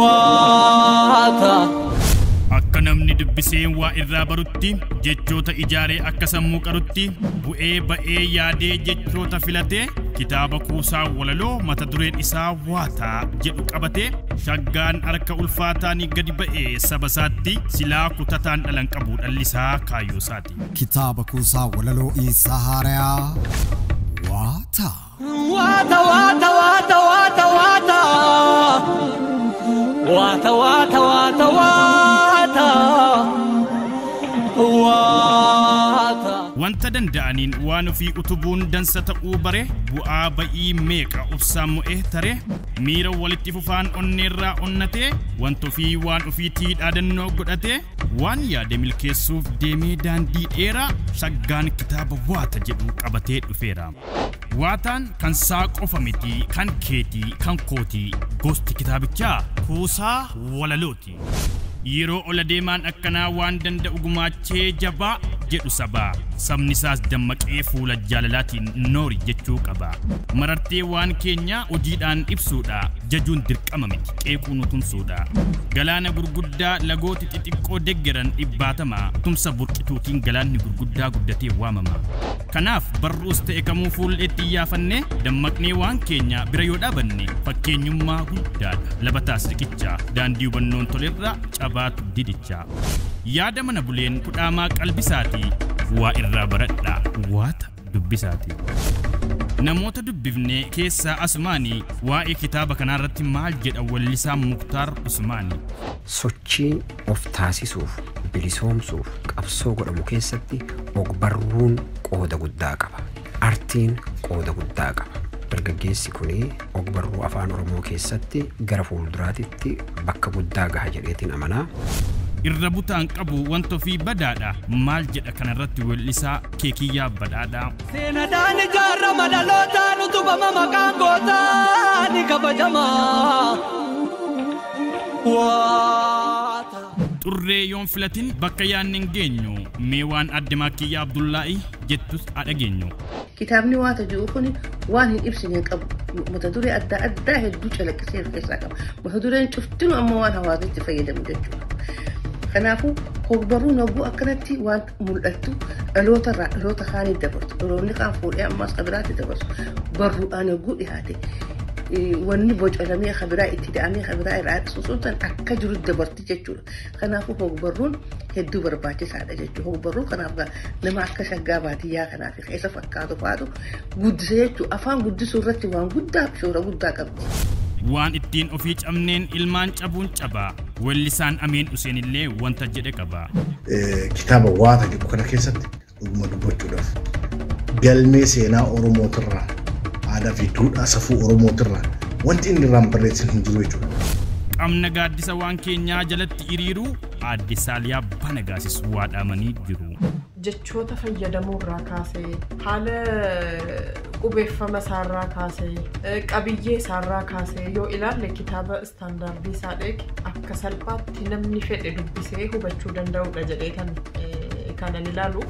waata. Akka namni dubbisee waa irraa barutti, jechoota ijaaree akka sammuu qarutti, bu'ee ba'ee yaadee jechoota filatee, kitaaba kuusaa walaloo mata dureen isaa Waata jedhu qabatee, shaggaan harka ulfaataan gadi ba'e saba isaatti, silaa kutataan dhala hin qabu dhalli isaa kaayyoo isaati. Kitaaba kuusaa walaloo isaa haarayaa Waata. Wanta danda'aniin waan ofii utubuun dansa ta'uu bare, bu'aa ba'ii meeqa obsaan mo'e tare, miira walitti fufaan onneerraa onnatee, wanta ofii waan ofiitii dhaadannoo godhatee, waan yaade milkeessuuf deemee daandii dheeraa, saggaan kitaaba waata jedhu qabatee dhufeera. Waataan kan saa qofa miti kan keeti kan kooti gosti kitaabichaa kuusaa walalooti. Yeroo ol adeemaan akkanaa waan danda'u gumaachee jabaa jedhu saba. Sabni saas dammaqee fuula jaalalaatiin noori jechuu qaba. Marartee waan keenyaa hojiidhaan ibsuudha. Jajuun dirqama miti qeequu nu tumsuudha. Galaana gurguddaa lagooti xixiqqoo deggeran dhibbaatama. Tumsa burqituutiin galaanni gurguddaa guddatee waamama. Kanaaf barruus ta'e kamuu fuul eetti iyyaafannee dammaqnee waan keenya bira yoo dhaabanne fakkeenyummaa guddaadha. Labataas riqichaa, daandii hubannoon tolerraa cabaatu didichaa. Yaada mana buleen kudhaamaa qalbisaatii waa irraa baradhaa waata dubbisaatii. Namoota dubbifnee keessaa asumaanii waa'ee kitaaba kanaarratti maal jedha wallisaan Muktaar Usmaanii. Sochiin of taasisuuf, bilisoomsuuf qabsoo godhamu keessatti ogbarruun qooda guddaa qaba. Artiin qooda guddaa qaba. Dargaggeessi kun ogbarruu Afaan Oromoo keessatti gara fuulduraatitti bakka guddaa gaha jedheetiin amana. Irra butaan qabu wanta ofii badaadha maal jedha kanarratti weellisaa keekiyyaa badhaadhaa. Seenadaan ijaarama dhalootaan utubama maqaan gootaa ni kabajama. Xurree yoon filatin bakka yaadne hin geenyu. Mee waan Aadde Maakkiyyaa Abdullaahii jettus haa dhageenyu. Kitaabni waata ji'u kun waan hin ibsine hin qabu. Mata duree adda addaa hedduu calaqqisee of keessaa qaba. Mata dureen cuftinu amma waan hawaasni itti fayyadamu jechuudha. Kanaafuu hogbarruun hogguu akkanatti waan mul'attu dhaloota irraa dhaloota kaaniif dabarsu dhaloonni kaan fuudhee ammaas kan biraatti dabarsu barruudhaan yogguu dhiyaate wanni bocalamee kan biraa itti da'amee kan biraa irraa susuun san akka jiru dabarti jechuudha. Kanaafuu hogbarruun hedduu barbaachisaadha jechuudha. Hogbarruu kanaaf nama akka shaggaa baadiyyaa kanaaf ka isa fakkaatu faatu guddisa jechuudha. Afaan guddisuu irratti waan guddaaf shoora guddaa qabdi. Waan ittiin ofii cabneen ilmaan cabuun caba. Weellisaan Amiin Useen illee wanta jedhe qaba. Kitaaba Waata jedhu kana keessatti dhuguma dubbachuudhaaf galmee seenaa Oromootirraa aadaa fi duudhaa safuu Oromootirraa wanti inni irraan barreessan hin jiru jechuudha. Qabna gaaddisa waan keenyaa jalatti iriiruu aadde Saaliyaa Banagaasis waa dhaamanii jiru. jechoota fayyadamuu irraa kaasee, haala qubeeffama isaa irraa kaasee, qabiyyee isaa irraa kaasee yoo ilaalle kitaaba istaandaardii isaa eege akka salphaatti namni fedhe dubbisee hubachuu danda'udha jedhee kan kanan ilaalu.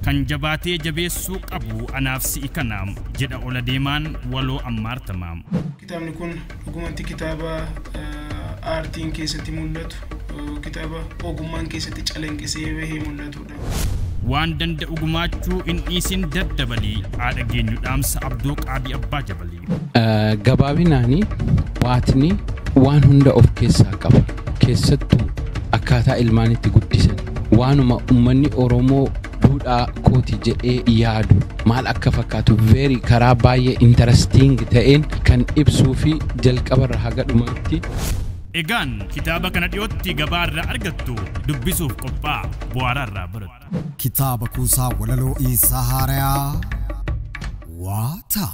Kan jabaatee jabeessuu qabu anaaf si'i kana, jedha ol adeemaan waloo Ammaar Tamaam. Kitaabni kun Dhugumatti kitaaba aartiin keessatti mul'atu, kitaaba ogummaan keessatti calanqisee bahee mul'atudha. Waan danda'u gumaachuu hin dhiisin daddabalii haa dhageenyu dhaamsa Abdoo Qaabii Abbaa Jabalii. Gabaabinaani waatni waan hunda of keessaa qaba. Keessattuu akkaataa ilmaan itti guddisan waanuma ummanni Oromoo duudhaa kooti jedhee yaadu maal akka fakkaatu very karaa baay'ee interesting ta'een kan ibsuu fi jalqabarra haga dhumaatti Egaan kitaaba kana dhiyootti gabaa irraa argattu dubbisuuf qophaa'a bu'aaraa irraa barattu. Kitaaba kuusaa walaloo Iisaa Haarayaa Waataa.